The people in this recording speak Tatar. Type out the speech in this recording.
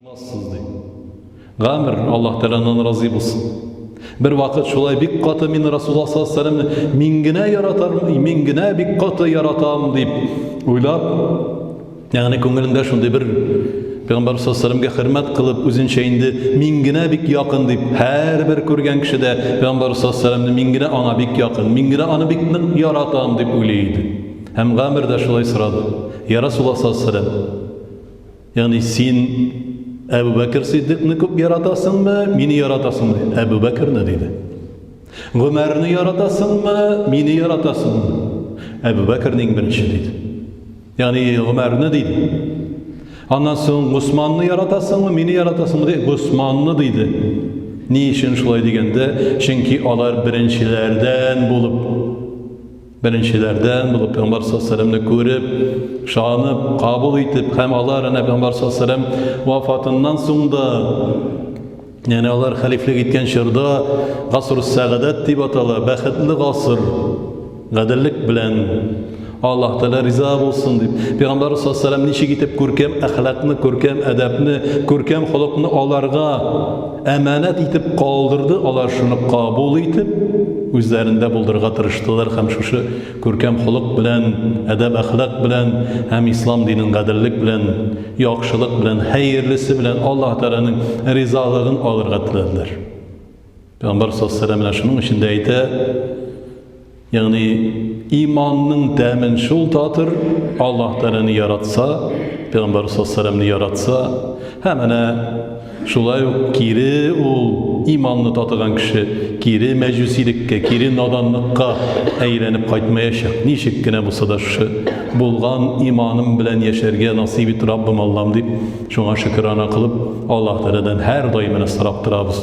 Алмассыз, ди. Гамер, Аллаһ Тәгаләннән разый булсын. Бер вакыт шулай бик каты мин Расулла саллаллаху алейһи ва сәлламне мин генә яратам, мин генә бик каты яратам дип уйлап, ягъни күңелендә шундый бер Пәйгамбәр саллаллаху хөрмәт кылып, үзенчә инде мин генә бик якын дип, һәрбер күргән кеше дә Пәйгамбәр саллаллаху мин генә аңа бик якын, мин генә аны бик нык яратам дип уйлый иде. Һәм Гамер дә шулай сорады. Я Расулла саллаллаху Ягъни син Әбу Бәкер Сиддикны күп яратасыңмы, мине яратасыңмы? Әбу Бәкерне диде. Гомәрне яратасыңмы, мине яратасыңмы? Әбу Бәкерне иң беренче диде. Ягъни Гомәрне диде. Аннан соң Госманны яратасыңмы, мине яратасыңмы? Диде. Госманны диде. Ни өчен шулай дигәндә, чөнки алар беренчеләрдән булып Беренчеләрдән булып Пәйгамбәр саллаллаху күреп, шанып, кабул итеп, һәм алар әнә Пәйгамбәр саллаллаху вафатыннан соң да Яне алар хәлифлек иткән чорда гасыр сәгадәт дип атала, бәхетле гасыр. Гаделлек белән Аллаһ Тәгалә риза булсын дип, Пәйгамбәр саллаллаху алейһи ничек итеп күркәм әхлакны, күркәм әдәпне, күркәм холыкны аларга Әманәт итеп калдырды, алар шуны кабул итеп, үзләрендә булдырырга тырыштылар һәм шушы күркәм холык белән, әдәп-әхлак белән һәм ислам динен гаделлек белән, яхшылык белән, хәерлесе белән Аллаһ Тәгаләнең ризалыгын алырга теләделәр. Пәйгамбәр саллаллаһу алейһи вә сәлләм менә шуның өчен дә әйтә, Ягъни иманның тәмен шул татыр, Аллаһ Тәгаләне яратса, Пәйгамбәр саллаллаһу яратса, һәм әнә шулай ук кире ул иманны татыган кеше кире мәҗүсилеккә, кире наданлыкка әйләнеп кайтмаячак. Ничек кенә булса да шушы булган иманым белән яшәргә насыйп ит, Раббым Аллам дип, шуңа шөкерана кылып, Аллаһ Тәгаләдән һәр даим сорап торабыз.